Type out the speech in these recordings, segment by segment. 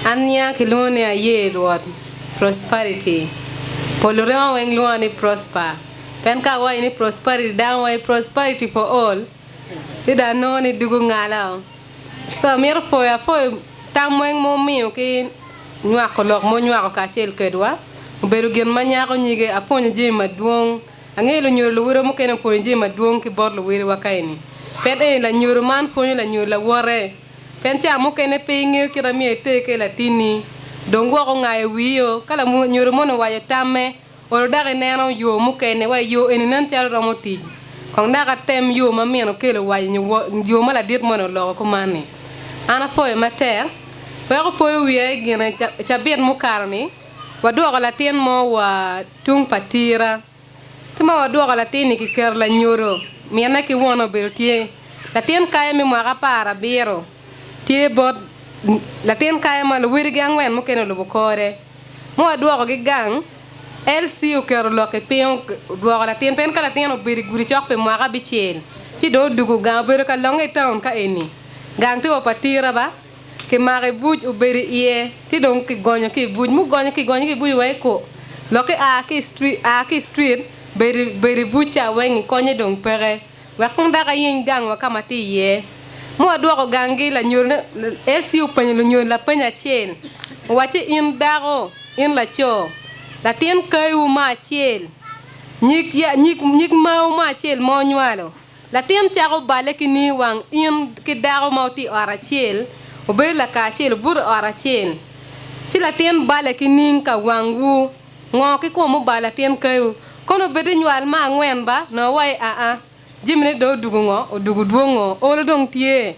Ania kilwongo ni aye Rwot, prosperity. Polo remo weng lwonga ni prosper. Pien ka awaco ni prosperity dano waco prosperity for all ci dong anongo ni dugo ngala o. So amito pwoyo apwoyo tam weng ma wumiyo ki nywako lok ma wunywako kacel kedwa. Obedo gin ma nyako nyige. Apwonyo jami madwong. Angeyo lunyodo luwote mukene opwonyo jami madwong ki bot luwiliwa ka eni. Pien eni lanyodo man pwonyo lanyodo lawote. Pien ca mukene pe ingeyo kit amiyo iter ki i latinni, dong gwok ongayo wiyio ka lanyodo moni owaco tamme, olo dako ineno yo mukene, wa i yo eni nen calo romo tic. Kong dako atem yo ma min okelo owaco nyo yo ma ladit moni oloko kumanni. An apwoyo matek. Wek opoyo wiya i gine, cabit mukato-ni, wadwoko latin mo wa tung pa tira. Ki ma wadwoko latin-ni kiketo lanyodo, minne ki wone obedo tye. Latin kayo me mwaka apar abiro tye bot latin kayo ma luwodigi angwen mukene olubo kore. Ma wadwokogi gang, LC oketo lok-ki piny odwoko latin piny ka latin obedo i gudi cok pi mwaka abicel ci dong odwogo gang obedo ka longe i taun ka eni. Gang tye wa pa tira ba? Kimako i buc, obedo i iye, ci dong kigonyo ki i buc. Mugonyo kigonyo ki i buc wek iko. Lokke a ki a ki i street bedo bedo i buc ca weng i konye dong peke. Wek kong dok ayiny gang wa ka ma atye iye. Mo adwoko gangi lanyol LC openyo lunyol lapeny acel, owacci in dako, in laco, latin kayi wu ma acel, nyig nyig nyig mawu ma acel ma onywalo, Latin cako balle ki nii wang in ki dako ma wutye i ot acel, wubedo laka acel, wubuto i ot acel, ci latin balle ki ning ka wangwu, ngo ki kwo mubalo latin kayu? Kono obed ni nywal me angwen ba nongo wa i aa, jamine dong odugo ngo, odugo dwong ngo, olo dong tye,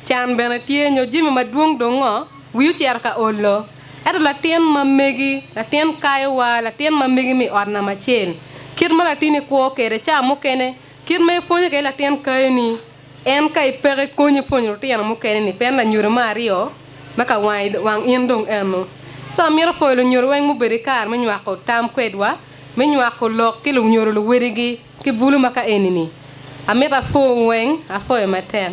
can bene tye nyo jami madwong dong ngo, wii ocito ka olo. Ento latin ma megi, latin kayu wa, latin ma megi mi ot namba acel, kit ma latinni kwo kwede ca mukene, Kit ma ipwonyo kwede latin kayoni en ka ipeke konyi pwonyo lutino mukene-ni pien lanyodo me aryo ma ka wang in dong ennu. Ci amito pwoyo lunyodo weng mubedo ki kare me nywako tam kwedwa me nywako lok ki lunyodo luwodigi ki bulu ma ka eni-ni. Amito apwowu weng, apwoyo matek.